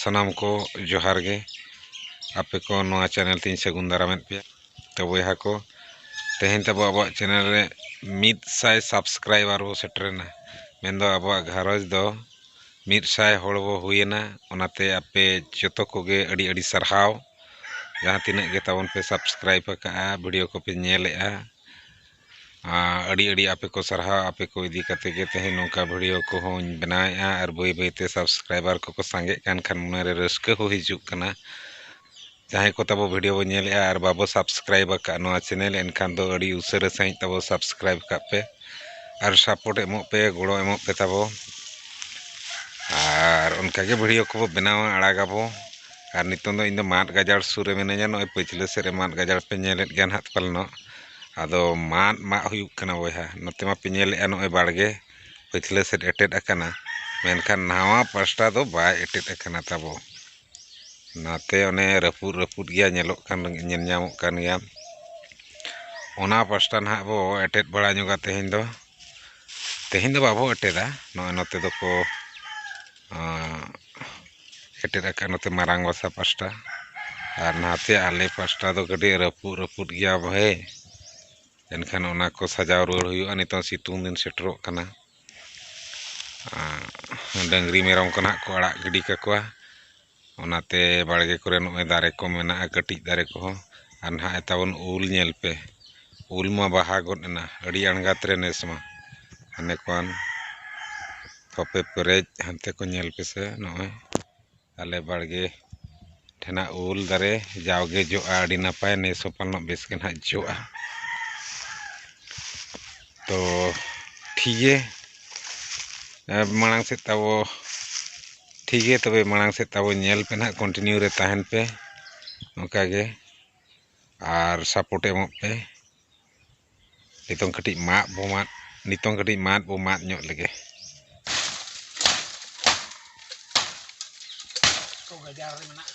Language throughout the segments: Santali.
ᱥᱟᱱᱟᱢ ᱠᱚ ᱡᱚᱦᱟᱨ ᱜᱮ ᱟᱯᱮ ᱠᱚ ᱱᱚᱣᱟ ᱪᱮᱱᱮᱞ ᱛᱤᱧ ᱥᱟᱹᱜᱩᱱ ᱫᱟᱨᱟᱢᱮᱫ ᱯᱮᱭᱟ ᱛᱚ ᱵᱚᱭᱦᱟ ᱠᱚ ᱛᱮᱦᱮᱧ ᱛᱟᱵᱚ ᱟᱵᱚᱣᱟᱜ ᱪᱮᱱᱮᱞ ᱨᱮ ᱢᱤᱫ ᱥᱟᱭ ᱥᱟᱵᱥᱠᱨᱟᱭᱵᱟᱨ ᱵᱚ ᱥᱮᱴᱮᱨᱮᱱᱟ ᱢᱮᱱᱫᱚ ᱟᱵᱚᱣᱟᱜ ᱜᱷᱟᱨᱚᱸᱡᱽ ᱫᱚ ᱢᱤᱫ ᱥᱟᱭ ᱦᱚᱲ ᱵᱚ ᱦᱩᱭᱮᱱᱟ ᱚᱱᱟᱛᱮ ᱟᱯᱮ ᱡᱚᱛᱚ ᱠᱚᱜᱮ ᱟᱹᱰᱤ ᱟᱹᱰᱤ ᱥᱟᱨᱦᱟᱣ ᱡᱟᱦᱟᱸ ᱛᱤᱱᱟᱹᱜ ᱜᱮ ᱛᱟᱵᱚᱱ ᱯᱮ ᱥᱟᱵᱥᱠᱨᱟᱭᱤᱵᱽ ᱟᱠᱟᱜᱼᱟ ᱵᱷᱤᱰᱤᱭᱳ ᱠᱚᱯᱮ ᱧᱮᱞᱮᱜᱼᱟ ᱟᱹᱰᱤ ᱟᱹᱰᱤ ᱟᱯᱮ ᱠᱚ ᱥᱟᱨᱦᱟᱣ ᱟᱯᱮ ᱠᱚ ᱤᱫᱤ ᱠᱟᱛᱮ ᱜᱮ ᱛᱮᱦᱮᱧ ᱱᱚᱝᱠᱟ ᱵᱷᱤᱰᱭᱳ ᱠᱚᱦᱚᱸᱧ ᱵᱮᱱᱟᱣᱮᱜᱼᱟ ᱟᱨ ᱵᱟᱹᱭ ᱵᱟᱹᱭ ᱛᱮ ᱥᱟᱵᱥᱠᱨᱟᱭᱵᱟᱨ ᱠᱚᱠᱚ ᱥᱟᱸᱜᱮᱜ ᱠᱟᱱ ᱠᱷᱟᱱ ᱢᱚᱱᱮ ᱨᱮ ᱨᱟᱹᱥᱠᱟᱹ ᱦᱚᱸ ᱦᱤᱡᱩᱜ ᱠᱟᱱᱟ ᱡᱟᱦᱟᱸᱭ ᱠᱚ ᱛᱟᱵᱚ ᱵᱷᱤᱰᱭᱳ ᱵᱚᱱ ᱧᱮᱞᱮᱜᱼᱟ ᱟᱨ ᱵᱟᱵᱚ ᱥᱟᱵᱥᱠᱨᱟᱭᱤᱵᱽ ᱟᱠᱟᱜᱼᱟ ᱱᱚᱣᱟ ᱪᱮᱱᱮᱞ ᱮᱱᱠᱷᱟᱱ ᱫᱚ ᱟᱹᱰᱤ ᱩᱥᱟᱹᱨᱟ ᱥᱟᱺᱦᱤᱡ ᱛᱟᱵᱚ ᱥᱟᱵᱥᱠᱨᱟᱭᱤᱵᱽ ᱠᱟᱜ ᱯᱮ ᱟᱨ ᱥᱟᱯᱳᱨᱴ ᱮᱢᱚᱜ ᱯᱮ ᱜᱚᱲᱚ ᱮᱢᱚᱜ ᱯᱮ ᱛᱟᱵᱚ ᱟᱨ ᱚᱱᱠᱟ ᱜᱮ ᱵᱷᱤᱰᱭᱳ ᱠᱚᱵᱚ ᱵᱮᱱᱟᱣᱟ ᱟᱲᱟᱜᱟᱵᱚ ᱟᱨ ᱱᱤᱛᱚᱝ ᱫᱚ ᱤᱧ ᱫᱚ ᱢᱟᱫ ᱜᱟᱡᱟᱲ ᱥᱩᱨ ᱨᱮ ᱢᱤᱱᱟᱹᱧᱟ ᱱᱚᱜᱼᱚᱭ ᱯᱟᱹᱪᱷᱞᱟᱹ ᱥᱮᱫ ᱨᱮ ᱢᱟᱫ ᱜᱟᱡᱟᱲ ᱯᱮ ᱧᱮᱞᱮᱫ ᱜᱮᱭᱟ ᱦᱟᱸᱜ ᱯᱟᱞᱮᱱᱚᱜ ᱟᱫᱚ ᱢᱟᱫ ᱢᱟᱜ ᱦᱩᱭᱩᱜ ᱠᱟᱱᱟ ᱵᱚᱭᱦᱟ ᱱᱚᱛᱮ ᱢᱟᱯᱮ ᱧᱮᱞᱮᱫᱼᱟ ᱱᱚᱜᱼᱚᱭ ᱵᱟᱲᱜᱮ ᱯᱟᱹᱪᱷᱞᱟᱹ ᱥᱮᱫ ᱮᱴᱮᱫ ᱟᱠᱟᱱᱟ ᱢᱮᱱᱠᱷᱟᱱ ᱱᱟᱣᱟ ᱯᱟᱥᱴᱟ ᱫᱚ ᱵᱟᱭ ᱮᱴᱮᱫ ᱟᱠᱟᱱᱟ ᱛᱟᱵᱚ ᱱᱟᱛᱮ ᱚᱱᱮ ᱨᱟᱹᱯᱩᱫ ᱨᱟᱹᱯᱩᱫ ᱜᱮᱭᱟ ᱧᱮᱞᱚᱜ ᱠᱟᱱ ᱧᱮᱞ ᱧᱟᱢᱚᱜ ᱠᱟᱱ ᱜᱮᱭᱟ ᱚᱱᱟ ᱯᱟᱥᱴᱟ ᱱᱟᱦᱟᱜ ᱵᱚ ᱮᱴᱮᱫ ᱵᱟᱲᱟ ᱧᱚᱜᱟ ᱛᱮᱦᱮᱧ ᱫᱚ ᱛᱮᱦᱮᱧ ᱫᱚ ᱵᱟᱵᱚ ᱮᱴᱮᱫᱟ ᱱᱚᱜᱼᱚᱭ ᱱᱚᱛᱮ ᱫᱚᱠᱚ ᱮᱴᱮᱫ ᱟᱠᱟᱫ ᱱᱚᱛᱮ ᱢᱟᱨᱟᱝ ᱜᱚᱥᱟ ᱯᱟᱥᱴᱟ ᱟᱨ ᱱᱟᱛᱮ ᱟᱞᱮ ᱯᱟᱥᱴᱟ ᱫᱚ ᱠᱟᱹᱴᱤᱡ ᱨᱟᱹᱯᱩᱫ ᱨᱟᱹᱯᱩᱫ ᱜᱮᱭᱟ ᱵᱷᱟᱹᱭ ᱮᱱᱠᱷᱟᱱ ᱚᱱᱟ ᱠᱚ ᱥᱟᱡᱟᱣ ᱨᱩᱣᱟᱹᱲ ᱦᱩᱭᱩᱜᱼᱟ ᱱᱤᱛᱚᱜ ᱥᱤᱛᱩᱝ ᱫᱤᱱ ᱥᱮᱴᱮᱨᱚᱜ ᱠᱟᱱᱟ ᱰᱟᱹᱝᱨᱤ ᱢᱮᱨᱚᱢ ᱠᱚ ᱱᱟᱦᱟᱜ ᱠᱚ ᱟᱲᱟᱜ ᱜᱤᱰᱤ ᱠᱟᱠᱚᱣᱟ ᱚᱱᱟᱛᱮ ᱵᱟᱲᱜᱮ ᱠᱚᱨᱮ ᱱᱚᱜᱼᱚᱭ ᱫᱟᱨᱮ ᱠᱚ ᱢᱮᱱᱟᱜᱼᱟ ᱠᱟᱹᱴᱤᱡ ᱫᱟᱨᱮ ᱠᱚᱦᱚᱸ ᱟᱨ ᱱᱟᱦᱟᱜ ᱛᱟᱵᱚᱱ ᱩᱞ ᱧᱮᱞ ᱯᱮ ᱩᱞ ᱢᱟ ᱵᱟᱦᱟ ᱜᱚᱫ ᱮᱱᱟ ᱟᱹᱰᱤ ᱟᱬᱜᱟᱛ ᱨᱮ ᱱᱮᱥ ᱢᱟ ᱦᱟᱱᱮ ᱠᱷᱚᱱ ᱠᱚᱯᱮ ᱯᱮᱨᱮᱡ ᱦᱟᱱᱛᱮ ᱠᱚ ᱧᱮᱞ ᱯᱮᱥᱮ ᱱᱚᱜᱼᱚᱭ ᱟᱞᱮ ᱵᱟᱲᱜᱮ ᱴᱷᱮᱱᱟᱜ ᱩᱞ ᱫᱟᱨᱮ ᱡᱟᱣᱜᱮ ᱡᱚᱜᱼᱟ ᱟᱹᱰᱤ ᱱᱟᱯᱟᱭ ᱱᱮᱥ ᱦᱚᱸ ᱯᱟᱞᱮᱱᱚᱜ ᱵᱮᱥ ᱜᱮ ᱱᱟᱦᱟᱜ ᱡᱚᱜᱼᱟ ᱛᱚ ᱴᱷᱤᱠ ᱜᱮᱭᱟ ᱢᱟᱲᱟᱝ ᱥᱮᱫ ᱛᱟᱵᱚ ᱴᱷᱤᱠ ᱜᱮᱭᱟ ᱛᱚᱵᱮ ᱢᱟᱲᱟᱝ ᱥᱮᱫ ᱛᱟᱵᱚᱱ ᱧᱮᱞ ᱯᱮ ᱱᱟᱦᱟᱜ ᱠᱚᱱᱴᱤᱱᱤᱭᱩ ᱨᱮ ᱛᱟᱦᱮᱱ ᱯᱮ ᱚᱱᱠᱟ ᱜᱮ ᱟᱨ ᱥᱟᱯᱳᱨᱴ ᱮᱢᱚᱜ ᱯᱮ ᱱᱤᱛᱚᱝ ᱠᱟᱹᱴᱤᱡ ᱢᱟᱜ ᱵᱚ ᱢᱟᱜ ᱱᱤᱛᱚᱝ ᱠᱟᱹᱴᱤᱡ ᱢᱟᱜ ᱵᱚ ᱢᱟᱜ ᱧᱚᱜ ᱞᱮᱜᱮ ᱜᱟᱡᱟᱲ ᱨᱮ ᱢᱮᱱᱟᱜᱼᱟ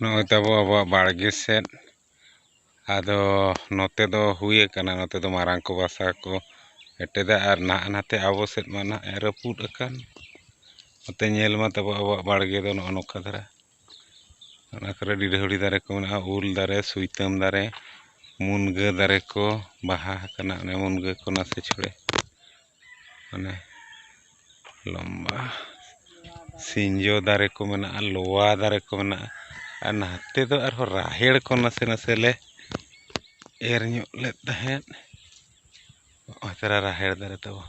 ᱱᱚᱜᱼᱚᱭ ᱛᱟᱵᱚ ᱟᱵᱚᱣᱟᱜ ᱵᱟᱲᱜᱮ ᱥᱮᱫ ᱟᱫᱚ ᱱᱚᱛᱮ ᱫᱚ ᱦᱩᱭ ᱟᱠᱟᱱᱟ ᱱᱚᱛᱮ ᱫᱚ ᱢᱟᱨᱟᱝ ᱠᱚ ᱵᱟᱥᱟ ᱠᱚ ᱮᱴᱮᱫᱟ ᱟᱨ ᱱᱟᱦᱟᱜ ᱱᱟᱛᱮ ᱟᱵᱚ ᱥᱮᱫ ᱢᱟ ᱱᱟᱦᱟᱜ ᱨᱟᱹᱯᱩᱫ ᱟᱠᱟᱱ ᱱᱚᱛᱮ ᱧᱮᱞ ᱢᱟ ᱛᱟᱵᱚ ᱟᱵᱚᱣᱟᱜ ᱵᱟᱲᱜᱮ ᱫᱚ ᱱᱚᱜᱼᱚ ᱱᱚᱝᱠᱟ ᱫᱷᱟᱨᱟ ᱚᱱᱟ ᱠᱚᱨᱮ ᱰᱤᱰᱷᱟᱹᱣᱲᱤ ᱫᱟᱨᱮ ᱠᱚ ᱢᱮᱱᱟᱜᱼᱟ ᱩᱞ ᱫᱟᱨᱮ ᱥᱩᱭᱛᱟᱹᱢ ᱫᱟᱨᱮ ᱢᱩᱱᱜᱟᱹ ᱫᱟᱨᱮ ᱠᱚ ᱵᱟᱦᱟ ᱟᱠᱟᱱᱟ ᱚᱱᱮ ᱢᱩᱱᱜᱟᱹ ᱠᱚ ᱱᱟᱥᱮ ᱪᱷᱚᱲᱮ ᱢᱟᱱᱮ ᱞᱚᱢᱵᱟ ᱥᱤᱧᱡᱚ ᱫᱟᱨᱮ ᱠᱚ ᱢᱮᱱᱟᱜᱼᱟ ᱞᱚᱣᱟ ᱫᱟᱨᱮ ᱠᱚ ᱢᱮᱱᱟᱜᱼᱟ ᱟᱨ ᱱᱟᱛᱮ ᱫᱚ ᱟᱨᱦᱚᱸ ᱨᱟᱦᱮᱲ ᱠᱚ ᱱᱟᱥᱮ ᱱᱟᱥᱮ ᱞᱮ ᱮᱨ ᱧᱚᱜ ᱞᱮᱫ ᱛᱟᱦᱮᱸᱫ ᱱᱚᱜᱼᱚᱭ ᱛᱚᱨᱟ ᱨᱟᱦᱮᱲ ᱫᱟᱨᱮ ᱛᱟᱵᱚᱱ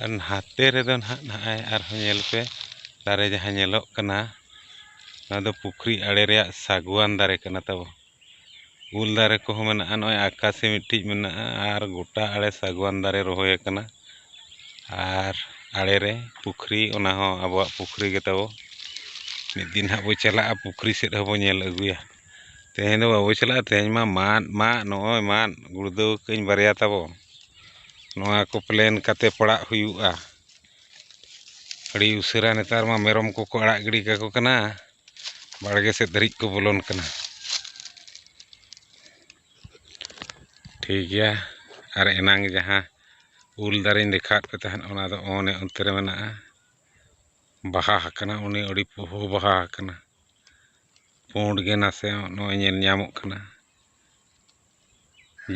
ᱟᱨ ᱱᱟᱛᱮ ᱨᱮᱫᱚ ᱱᱟᱦᱟᱜ ᱱᱚᱜᱼᱚᱭ ᱟᱨᱦᱚᱸ ᱧᱮᱞ ᱯᱮ ᱫᱟᱨᱮ ᱡᱟᱦᱟᱸ ᱧᱮᱞᱚᱜ ᱠᱟᱱᱟ ᱱᱚᱣᱟ ᱫᱚ ᱯᱩᱠᱷᱨᱤ ᱟᱬᱮ ᱨᱮᱭᱟᱜ ᱥᱟᱹᱜᱩᱣᱟᱱ ᱫᱟᱨᱮ ᱠᱟᱱᱟ ᱛᱟᱵᱚᱱ ᱩᱞ ᱫᱟᱨᱮ ᱠᱚᱦᱚᱸ ᱢᱮᱱᱟᱜᱼᱟ ᱱᱚᱜᱼᱚᱭ ᱟᱠᱟᱥᱤ ᱢᱤᱫᱴᱤᱡ ᱢᱮᱱᱟᱜᱼᱟ ᱟᱨ ᱜᱚᱴᱟ ᱟᱲᱮ ᱥᱟᱜᱽᱣᱟᱱ ᱫᱟᱨᱮ ᱨᱚᱦᱚᱭ ᱟᱠᱟᱱᱟ ᱟᱨ ᱟᱲᱮ ᱨᱮ ᱯᱩᱠᱷᱨᱤ ᱚᱱᱟ ᱦᱚᱸ ᱟᱵᱚᱣᱟᱜ ᱯᱩᱠᱷᱨᱤ ᱜᱮ ᱛᱟᱵᱚ ᱢᱤᱫ ᱫᱤᱱ ᱦᱟᱸᱜ ᱵᱚᱱ ᱪᱟᱞᱟᱜᱼᱟ ᱯᱩᱠᱷᱨᱤ ᱥᱮᱫ ᱦᱚᱸᱵᱚᱱ ᱧᱮᱞ ᱟᱹᱜᱩᱭᱟ ᱛᱮᱦᱮᱧ ᱫᱚ ᱵᱟᱵᱚᱱ ᱪᱟᱞᱟᱜᱼᱟ ᱛᱮᱦᱮᱧ ᱢᱟ ᱢᱟᱫ ᱢᱟᱫ ᱱᱚᱜᱼᱚᱭ ᱢᱟᱫ ᱜᱩᱲᱫᱟᱹᱣ ᱟᱠᱟᱫ ᱟᱹᱧ ᱵᱟᱨᱭᱟ ᱛᱟᱵᱚ ᱱᱚᱣᱟ ᱠᱚ ᱯᱞᱮᱱ ᱠᱟᱛᱮᱫ ᱯᱟᱲᱟᱜ ᱦᱩᱭᱩᱜᱼᱟ ᱟᱹᱰᱤ ᱩᱥᱟᱹᱨᱟ ᱱᱮᱛᱟᱨ ᱢᱟ ᱢᱮᱨᱚᱢ ᱠᱚᱠᱚ ᱟᱲᱟᱜ ᱜᱤᱰᱤ ᱠᱟᱠᱚ ᱠᱟᱱᱟ ᱵᱟᱲᱜᱮ ᱥᱮᱫ ᱫᱷᱟᱹᱨᱤᱡ ᱠᱚ ᱵᱚᱞᱚᱱ ᱠᱟᱱᱟ ᱴᱷᱤᱠ ᱜᱮᱭᱟ ᱟᱨ ᱮᱱᱟᱝ ᱡᱟᱦᱟᱸ ᱩᱞ ᱫᱟᱨᱮᱧ ᱫᱮᱠᱷᱟᱣᱟᱫ ᱯᱮ ᱛᱟᱦᱮᱸᱫ ᱚᱱᱟ ᱫᱚ ᱚᱱᱮ ᱚᱱᱛᱮ ᱨᱮ ᱢᱮᱱᱟᱜᱼᱟ ᱵᱟᱦᱟ ᱟᱠᱟᱱᱟ ᱩᱱᱤ ᱟᱹᱰᱤ ᱯᱩᱦᱩ ᱵᱟᱦᱟ ᱟᱠᱟᱱᱟ ᱯᱩᱸᱰ ᱜᱮ ᱱᱟᱥᱮ ᱱᱚᱜᱼᱚᱭ ᱧᱮᱞ ᱧᱟᱢᱚᱜ ᱠᱟᱱᱟ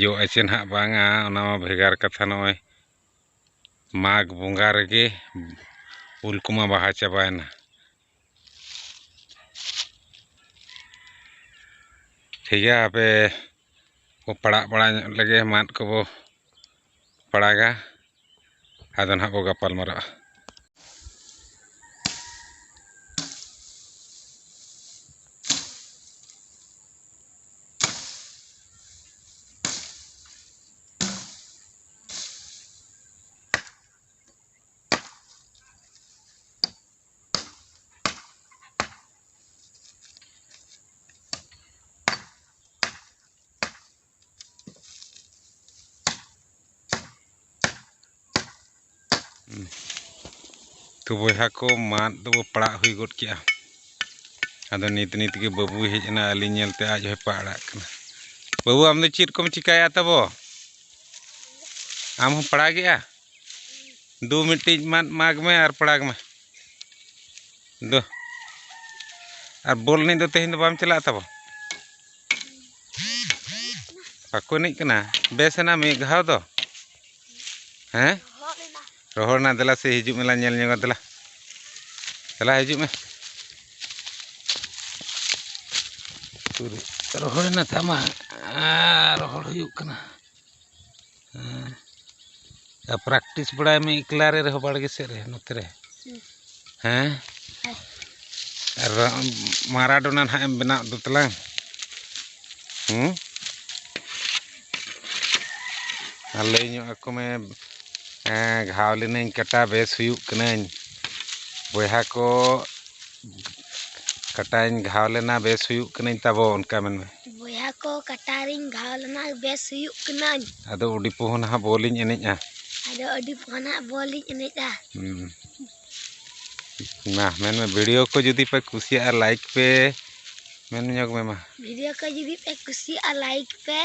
ᱡᱚ ᱟᱪᱮ ᱱᱟᱦᱟᱜ ᱵᱟᱝᱟ ᱚᱱᱟ ᱢᱟ ᱵᱷᱮᱜᱟᱨ ᱠᱟᱛᱷᱟ ᱱᱚᱜᱼᱚᱭ ᱢᱟᱜᱽ ᱵᱚᱸᱜᱟ ᱨᱮᱜᱮ ᱩᱞ ᱠᱚᱢᱟ ᱵᱟᱦᱟ ᱪᱟᱵᱟᱭᱮᱱᱟ ᱴᱷᱤᱠ ᱜᱮᱭᱟ ᱟᱯᱮ ᱠᱚ ᱯᱟᱲᱟᱜ ᱵᱟᱲᱟ ᱧᱚᱜ ᱞᱮᱜᱮ ᱢᱟᱫ ᱠᱚᱵᱚ ᱯᱟᱲᱟᱜᱟ ᱟᱫᱚ ᱱᱟᱦᱟᱜ ᱵᱚ ᱜᱟᱯᱟᱞ ᱢᱟᱨᱟᱜᱼᱟ ᱛᱚ ᱵᱚᱭᱦᱟ ᱠᱚ ᱢᱟᱫ ᱫᱚ ᱯᱟᱲᱟᱜ ᱦᱩᱭ ᱜᱚᱫ ᱠᱮᱜᱼᱟ ᱟᱫᱚ ᱱᱤᱛ ᱱᱤᱛ ᱜᱮ ᱵᱟᱹᱵᱩᱭ ᱦᱮᱡ ᱮᱱᱟ ᱟᱹᱞᱤᱧ ᱧᱮᱞᱛᱮ ᱟᱡ ᱦᱚᱸᱭ ᱯᱟᱲᱟᱜ ᱠᱟᱱᱟ ᱵᱟᱹᱵᱩ ᱟᱢ ᱫᱚ ᱪᱮᱫ ᱠᱚᱢ ᱪᱤᱠᱟᱹᱭᱟ ᱛᱟᱵᱚ ᱟᱢ ᱦᱚᱸ ᱯᱟᱲᱟᱜᱮᱜᱼᱟ ᱫᱩ ᱢᱤᱫᱴᱤᱡ ᱢᱟᱫ ᱢᱟᱜᱽ ᱢᱮ ᱟᱨ ᱯᱟᱲᱟᱜᱽ ᱢᱮ ᱫᱩ ᱟᱨ ᱵᱚᱞ ᱮᱱᱮᱡ ᱫᱚ ᱛᱮᱦᱮᱧ ᱫᱚ ᱵᱟᱢ ᱪᱟᱞᱟᱜᱼᱟ ᱛᱟᱵᱚ ᱵᱟᱠᱚ ᱮᱱᱮᱡ ᱠᱟᱱᱟ ᱵᱮᱥ ᱮᱱᱟ ᱢᱤᱫ ᱜᱷᱟᱣ ᱫᱚ ᱦᱮᱸ ᱨᱚᱦᱚᱲ ᱮᱱᱟ ᱫᱮᱞᱟ ᱥᱮ ᱦᱤᱡᱩᱜ ᱢᱮᱞᱟ ᱧᱮᱞ ᱧᱚᱜᱟ ᱫᱮᱞᱟ ᱫᱮᱞᱟ ᱦᱤᱡᱩᱜ ᱢᱮ ᱨᱚᱦᱚᱲ ᱮᱱᱟ ᱛᱟᱢᱟ ᱨᱚᱦᱚᱲ ᱦᱩᱭᱩᱜ ᱠᱟᱱᱟ ᱦᱮᱸ ᱯᱨᱮᱠᱴᱤᱥ ᱵᱟᱲᱟᱭ ᱢᱮ ᱮᱠᱞᱟ ᱨᱮ ᱨᱮᱦᱚᱸ ᱵᱟᱲᱜᱮ ᱥᱮᱫ ᱨᱮ ᱱᱚᱛᱮ ᱨᱮ ᱦᱮᱸ ᱟᱨ ᱢᱟᱨᱟᱰᱳᱱᱟ ᱱᱟᱦᱟᱜ ᱮᱢ ᱵᱮᱱᱟᱣ ᱩᱛᱟᱹᱨ ᱛᱟᱞᱟᱝ ᱦᱮᱸ ᱟᱨ ᱞᱟᱹᱭ ᱧᱚᱜ ᱟᱠᱚ ᱢᱮ ᱜᱷᱟᱣ ᱞᱤᱱᱟᱹᱧ ᱠᱟᱴᱟ ᱵᱮᱥ ᱦᱩᱭᱩᱜ ᱠᱟᱹᱱᱟᱹᱧ ᱵᱚᱭᱦᱟ ᱠᱚ ᱠᱟᱴᱟᱧ ᱜᱷᱟᱣ ᱞᱮᱱᱟ ᱵᱮᱥ ᱦᱩᱭᱩᱜ ᱠᱟᱹᱱᱟᱹᱧ ᱛᱟᱵᱚ ᱚᱱᱠᱟ ᱢᱮᱱ ᱢᱮ ᱵᱚᱭᱦᱟ ᱠᱚ ᱠᱟᱴᱟ ᱨᱤᱧ ᱜᱷᱟᱣ ᱞᱮᱱᱟ ᱵᱮᱥ ᱦᱩᱭᱩᱜ ᱠᱟᱹᱱᱟᱹᱧ ᱟᱫᱚ ᱟᱹᱰᱤ ᱯᱚᱦᱚᱱ ᱦᱟᱸᱜ ᱵᱚᱞ ᱤᱧ ᱮᱱᱮᱡᱼᱟ ᱟᱫᱚ ᱟᱹᱰᱤ ᱯᱚᱦᱚᱱ ᱦᱟᱸᱜ ᱵᱚᱞ ᱤᱧ ᱮᱱᱮᱡᱼᱟ ᱢᱟ ᱢᱮᱱ ᱢᱮ ᱵᱷᱤᱰᱤᱭᱳ ᱠᱚ ᱡᱩᱫᱤ ᱯᱮ ᱠᱩᱥᱤᱭᱟᱜᱼᱟ ᱞᱟᱭᱤᱠ ᱯᱮ ᱢᱮᱱ ᱧᱚᱜᱽ ᱢᱮ ᱢᱟ ᱵᱷᱤᱰᱤᱭᱳ ᱠᱚ ᱡᱩᱫᱤ ᱯᱮ ᱠᱩᱥᱤᱭᱟᱜᱼᱟ ᱞᱟᱭᱤᱠ ᱯᱮ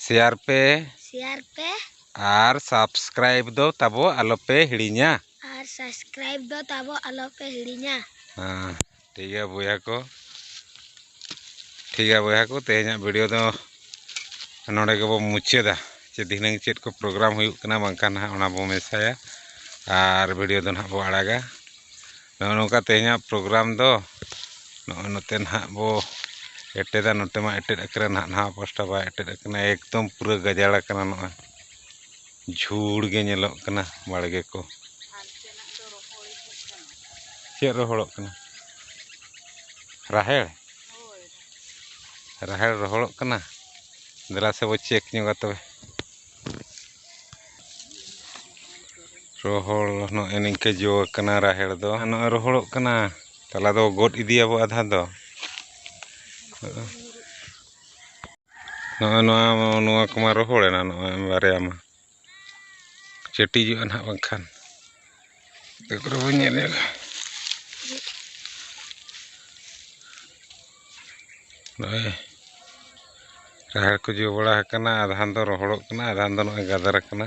ᱥᱮᱭᱟᱨ ᱯᱮ ᱥᱮᱭᱟᱨ ᱯᱮ ᱟᱨ ᱥᱟᱵᱥᱠᱨᱟᱭᱤᱵᱽ ᱫᱚ ᱛᱟᱵᱚ ᱟᱞᱚ ᱯᱮ ᱦᱤᱲᱤᱧᱟ ᱟᱨ ᱥᱟᱵᱥᱠᱨᱟᱭᱤᱵᱽ ᱫᱚ ᱛᱟᱵᱚ ᱟᱞᱚ ᱯᱮ ᱦᱤᱲᱤᱧᱟ ᱦᱮᱸ ᱴᱷᱤᱠ ᱜᱮᱭᱟ ᱵᱚᱭᱦᱟ ᱠᱚ ᱴᱷᱤᱠ ᱜᱮᱭᱟ ᱵᱚᱭᱦᱟ ᱠᱚ ᱛᱮᱦᱮᱧᱟᱜ ᱵᱷᱤᱰᱤᱭᱳ ᱫᱚ ᱱᱚᱰᱮ ᱜᱮᱵᱚ ᱢᱩᱪᱟᱹᱫᱟ ᱡᱮ ᱫᱷᱤᱱᱟᱹᱝ ᱪᱮᱫ ᱠᱚ ᱯᱨᱳᱜᱨᱟᱢ ᱦᱩᱭᱩᱜ ᱠᱟᱱᱟ ᱵᱟᱝᱠᱷᱟᱱ ᱱᱟᱦᱟᱜ ᱚᱱᱟ ᱵᱚ ᱢᱮᱥᱟᱭᱟ ᱟᱨ ᱵᱷᱤᱰᱤᱭᱳ ᱫᱚ ᱱᱟᱦᱟᱜ ᱵᱚ ᱟᱲᱟᱜᱟ ᱱᱚᱜᱼᱚ ᱱᱚᱝᱠᱟ ᱛᱮᱦᱮᱧᱟᱜ ᱯᱨᱳᱜᱨᱟᱢ ᱫᱚ ᱱᱚᱜᱼᱚᱭ ᱱᱚᱛᱮ ᱱᱟᱦᱟᱜ ᱵᱚ ᱮᱴᱮᱫᱟ ᱱᱚᱛᱮ ᱢᱟ ᱮᱴᱮᱫ ᱟᱠᱟᱱᱟ ᱱᱟᱦᱟᱜ ᱱᱟᱣᱟ ᱯᱟᱥᱴᱟ ᱵᱟᱭ ᱮᱴᱮᱫ ᱟᱠᱟᱱᱟ ᱮᱠᱫᱚᱢ ᱯᱩᱨᱟᱹ ᱜᱟᱡᱟᱲ ᱟᱠᱟᱱᱟ ᱱᱚᱜᱼᱚᱭ ᱡᱷᱩᱲ ᱜᱮ ᱧᱮᱞᱚᱜ ᱠᱟᱱᱟ ᱵᱟᱲᱜᱮ ᱠᱚ ᱪᱮᱫ ᱨᱚᱦᱚᱲᱚᱜ ᱠᱟᱱᱟ ᱨᱟᱦᱮᱲ ᱨᱟᱦᱮᱲ ᱨᱚᱦᱚᱲᱚᱜ ᱠᱟᱱᱟ ᱫᱮᱞᱟ ᱥᱮ ᱵᱚ ᱪᱮᱠ ᱧᱚᱜᱟ ᱛᱚᱵᱮ ᱨᱚᱦᱚᱲ ᱱᱚᱜᱼᱚᱭ ᱱᱤᱝᱠᱟᱹ ᱡᱚ ᱟᱠᱟᱱᱟ ᱨᱟᱦᱮᱲ ᱫᱚ ᱱᱚᱜᱼᱚᱭ ᱨᱚᱦᱚᱲᱚᱜ ᱠᱟᱱᱟ ᱛᱟᱞᱟ ᱫᱚ ᱜᱚᱫ ᱤᱫᱤᱭᱟᱵᱚ ᱟᱫᱷᱟ ᱫᱚ ᱱᱚᱜᱼᱚᱭ ᱱᱚᱣᱟ ᱱᱚᱣᱟ ᱠᱚᱢᱟ ᱨᱚᱦᱚᱲᱮᱱᱟ ᱱᱚᱜᱼᱚᱭ ᱵᱟᱨᱭᱟ ᱢᱟ ᱪᱟᱹᱴᱤᱡᱚᱜᱼᱟ ᱱᱟᱦᱟᱜ ᱵᱟᱝᱠᱷᱟᱱ ᱚᱠᱟ ᱠᱚᱨᱮ ᱵᱚᱱ ᱧᱮᱞᱮᱫ ᱱᱚᱜᱼᱚᱭ ᱨᱟᱦᱮᱲ ᱠᱚ ᱡᱚ ᱵᱟᱲᱟ ᱟᱠᱟᱱᱟ ᱟᱫᱷᱟᱱ ᱫᱚ ᱨᱚᱦᱚᱲᱚᱜ ᱠᱟᱱᱟ ᱟᱫᱷᱟᱱ ᱫᱚ ᱱᱚᱜᱼᱚᱭ ᱜᱟᱫᱟᱨ ᱟᱠᱟᱱᱟ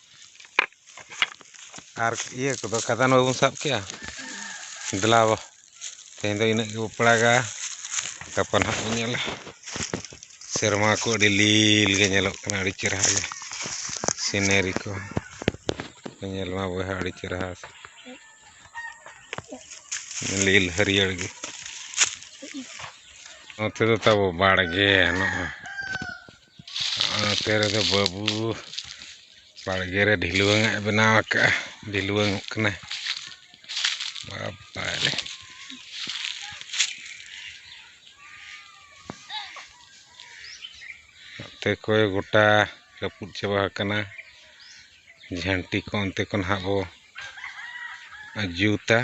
ᱟᱨ ᱤᱭᱟᱹ ᱠᱚᱫᱚ ᱠᱟᱫᱟᱱ ᱵᱟᱵᱚᱱ ᱥᱟᱵ ᱠᱮᱜᱼᱟ ᱫᱮᱞᱟ ᱛᱮᱦᱮᱧ ᱫᱚ ᱤᱱᱟᱹᱜ ᱜᱮᱵᱚ ᱯᱟᱲᱟᱜᱟ ᱜᱟᱯᱟ ᱱᱟᱦᱟᱜ ᱵᱚᱱ ᱧᱮᱞᱟ ᱥᱮᱨᱢᱟ ᱠᱚ ᱟᱹᱰᱤ ᱞᱤᱞ ᱜᱮ ᱧᱮᱞᱚᱜ ᱠᱟᱱᱟ ᱟᱹᱰᱤ ᱪᱮᱦᱨᱟ ᱜᱮ ᱥᱤᱱᱟᱨᱤ ᱠᱚ ᱧᱮᱞ ᱢᱟ ᱵᱚᱭᱦᱟ ᱟᱹᱰᱤ ᱪᱮᱦᱨᱟ ᱞᱤᱞ ᱦᱟᱹᱨᱭᱟᱹᱲ ᱜᱮ ᱱᱚᱛᱮ ᱫᱚ ᱛᱟᱵᱚ ᱵᱟᱲᱜᱮ ᱱᱚᱜᱼᱚᱭ ᱱᱚᱛᱮ ᱨᱮᱫᱚ ᱵᱟᱹᱵᱩ ᱵᱟᱲᱜᱮ ᱨᱮ ᱰᱷᱤᱞᱣᱟᱹᱝ ᱟᱜ ᱮ ᱵᱮᱱᱟᱣ ᱟᱠᱟᱫᱼᱟ ᱰᱷᱤᱞᱣᱟᱹᱝ ᱚᱜ ᱠᱟᱱᱟᱭ ᱵᱟᱵᱟᱨᱮ ᱱᱚᱛᱮ ᱠᱚᱭ ᱜᱚᱴᱟ ᱨᱟᱹᱯᱩᱫ ᱪᱟᱵᱟ ᱟᱠᱟᱱᱟ ᱡᱷᱟᱹᱱᱴᱤ ᱠᱚ ᱚᱱᱛᱮ ᱠᱷᱚᱱ ᱦᱟᱸᱜ ᱵᱚ ᱡᱩᱛᱟ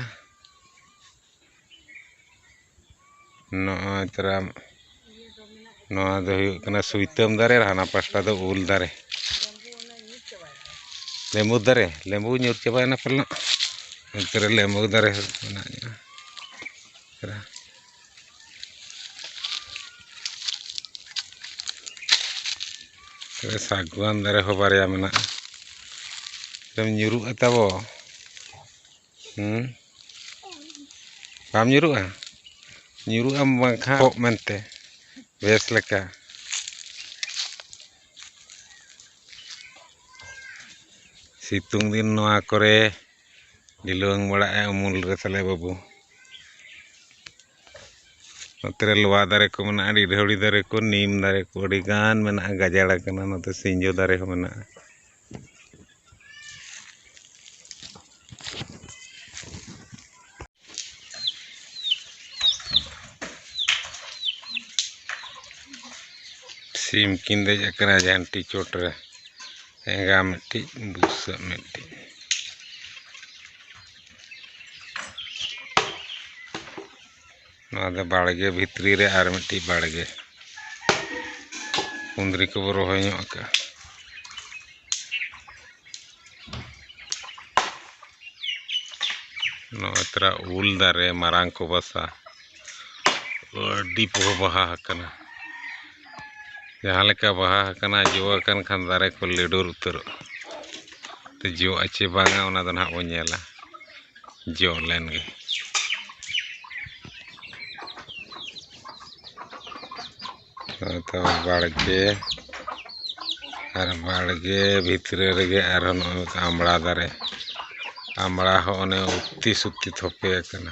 ᱱᱚᱜᱼᱚᱭ ᱛᱚᱨᱟ ᱱᱚᱣᱟ ᱫᱚ ᱦᱩᱭᱩᱜ ᱠᱟᱱᱟ ᱥᱩᱭᱛᱟᱹᱢ ᱫᱟᱨᱮ ᱟᱨ ᱦᱟᱱᱟ ᱯᱟᱥᱴᱟ ᱫᱚ ᱩᱞ ᱫᱟᱨᱮ ᱞᱮᱵᱩ ᱫᱟᱨᱮ ᱞᱮᱵᱩ ᱧᱩᱨ ᱪᱟᱵᱟᱭᱮᱱᱟ ᱯᱟᱞᱮᱱᱚᱜ ᱚᱱᱛᱮ ᱨᱮ ᱞᱮᱵᱩ ᱫᱟᱨᱮ ᱢᱮᱱᱟᱜ ᱜᱮᱭᱟ ᱛᱚᱵᱮ ᱥᱟᱹᱜᱩᱣᱟᱱ ᱫᱟᱨᱮ ᱦᱚᱸ ᱵᱟᱨᱭᱟ ᱢᱮᱱᱟᱜᱼᱟ ᱧᱩᱨᱩᱜᱼᱟ ᱛᱟᱵᱚ ᱦᱮᱸ ᱵᱟᱢ ᱧᱩᱨᱩᱜᱼᱟ ᱧᱩᱨᱩᱜ ᱟᱢ ᱵᱟᱝᱠᱷᱟᱱ ᱠᱚᱜ ᱢᱮᱱᱛᱮ ᱵᱮᱥ ᱞᱮᱠᱟ ᱥᱤᱛᱩᱝ ᱫᱤᱱ ᱱᱚᱣᱟ ᱠᱚᱨᱮ ᱰᱷᱤᱞᱣᱟᱹᱝ ᱵᱟᱲᱟᱜᱼᱟ ᱩᱢᱩᱞ ᱨᱮ ᱛᱟᱞᱮ ᱵᱟᱹᱵᱩ ᱱᱚᱛᱮ ᱨᱮ ᱞᱚᱣᱟ ᱫᱟᱨᱮ ᱠᱚ ᱢᱮᱱᱟᱜᱼᱟ ᱰᱤᱰᱷᱟᱹᱣᱲᱤ ᱫᱟᱨᱮ ᱠᱚ ᱱᱤᱢ ᱫᱟᱨᱮ ᱠᱚ ᱟᱹᱰᱤᱜᱟᱱ ᱢᱮᱱᱟᱜᱼᱟ ᱜᱟᱡᱟᱲ ᱠᱟᱱᱟ ᱱᱚᱛᱮ ᱥᱤᱧᱡᱚ ᱫᱟᱨᱮ ᱦᱚᱸ ᱢᱮᱱᱟᱜᱼᱟ ᱥᱤᱢ ᱠᱤᱱ ᱫᱮᱡ ᱟᱠᱟᱱᱟ ᱡᱷᱟᱱᱴᱤ ᱪᱚᱴ ᱨᱮ ᱮᱸᱜᱟ ᱢᱤᱫᱴᱤᱡ ᱵᱩᱥᱟᱹᱜ ᱢᱤᱫᱴᱤᱡ ᱱᱚᱣᱟ ᱫᱚ ᱵᱟᱲᱜᱮ ᱵᱷᱤᱛᱨᱤ ᱨᱮ ᱟᱨ ᱢᱤᱫᱴᱤᱡ ᱵᱟᱲᱜᱮ ᱠᱩᱸᱫᱽᱨᱤ ᱠᱚᱵᱚ ᱨᱚᱦᱚᱭ ᱧᱚᱜ ᱟᱠᱟᱜᱼᱟ ᱱᱚᱜᱼᱚᱭ ᱛᱚᱨᱟ ᱩᱞ ᱫᱟᱨᱮ ᱢᱟᱨᱟᱝ ᱠᱚ ᱵᱟᱥᱟ ᱟᱹᱰᱤ ᱯᱚᱦᱚ ᱵᱟᱦᱟ ᱟᱠᱟᱱᱟ ᱡᱟᱦᱟᱸ ᱞᱮᱠᱟ ᱵᱟᱦᱟ ᱟᱠᱟᱱᱟ ᱡᱚ ᱟᱠᱟᱱ ᱠᱷᱟᱱ ᱫᱟᱨᱮ ᱠᱚ ᱞᱤᱰᱩᱨ ᱩᱛᱟᱹᱨᱚᱜᱼᱟ ᱛᱮ ᱡᱚᱜᱼᱟ ᱪᱮ ᱵᱟᱝᱟ ᱚᱱᱟ ᱫᱚ ᱱᱟᱦᱟᱜ ᱵᱚᱱ ᱧᱮᱞᱟ ᱡᱚ ᱞᱮᱱᱜᱮ ᱦᱚᱭᱛᱚ ᱵᱟᱲᱜᱮ ᱟᱨ ᱵᱟᱲᱜᱮ ᱵᱷᱤᱛᱨᱤ ᱨᱮᱜᱮ ᱟᱨᱦᱚᱸ ᱱᱚᱜᱼᱚᱭ ᱢᱤᱫᱴᱟᱱ ᱟᱢᱲᱟ ᱫᱟᱨᱮ ᱟᱢᱲᱟ ᱦᱚᱸ ᱚᱱᱮ ᱩᱛᱤ ᱥᱩᱛᱤ ᱛᱷᱚᱯᱮ ᱟᱠᱟᱱᱟ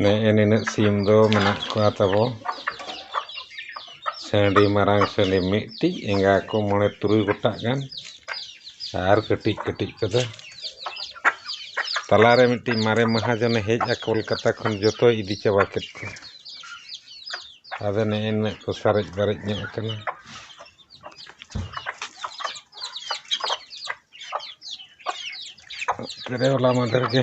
ᱱᱮᱜᱼᱮ ᱱᱤᱱᱟᱹᱜ ᱥᱤᱢ ᱫᱚ ᱢᱮᱱᱟᱜ ᱠᱚᱣᱟ ᱛᱟᱵᱚ ᱥᱟᱺᱰᱤ ᱢᱟᱨᱟᱝ ᱥᱟᱺᱰᱤ ᱢᱤᱫᱴᱤᱡ ᱮᱸᱜᱟ ᱠᱚ ᱢᱚᱬᱮ ᱛᱩᱨᱩᱭ ᱜᱚᱴᱟᱜ ᱜᱟᱱ ᱟᱨ ᱠᱟᱹᱴᱤᱡ ᱠᱟᱹᱴᱤᱡ ᱠᱚᱫᱚ ᱛᱟᱞᱟ ᱨᱮ ᱢᱤᱫᱴᱤᱡ ᱢᱟᱨᱮ ᱢᱟᱦᱟᱡᱚᱱᱮ ᱦᱮᱡ ᱮᱱᱟ ᱠᱳᱞᱠᱟᱛᱟ ᱠᱷᱚᱱ ᱡᱚᱛᱚᱭ ᱤᱫᱤ ᱪᱟᱵᱟ ᱠᱮᱫ ᱠᱚᱣᱟ ᱟᱫᱚ ᱱᱮᱜᱼᱮ ᱱᱤᱱᱟᱹᱜ ᱠᱚ ᱥᱟᱨᱮᱡ ᱵᱟᱨᱮᱡ ᱧᱚᱜ ᱟᱠᱟᱱᱟ ᱦᱚᱞᱟ ᱢᱟᱫᱷᱮᱨ ᱜᱮ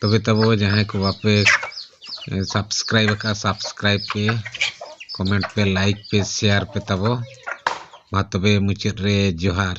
ᱛᱚᱵᱮ ᱛᱟᱵᱚ ᱡᱟᱦᱟᱸᱭ ᱠᱚ ᱵᱟᱯᱮ ᱥᱟᱵᱥᱠᱨᱟᱭᱤᱵ ᱟᱠᱟᱫ ᱥᱟᱵᱥᱠᱨᱟᱭᱤᱵ ᱯᱮ ᱠᱚᱢᱮᱱᱴ ᱯᱮ ᱞᱟᱭᱤᱠ ᱯᱮ ᱥᱮᱭᱟᱨ ᱯᱮ ᱛᱟᱵᱚ ᱢᱟ ᱛᱚᱵᱮ ᱢᱩᱪᱟᱹᱫ ᱨᱮ ᱡᱚᱦᱟᱨ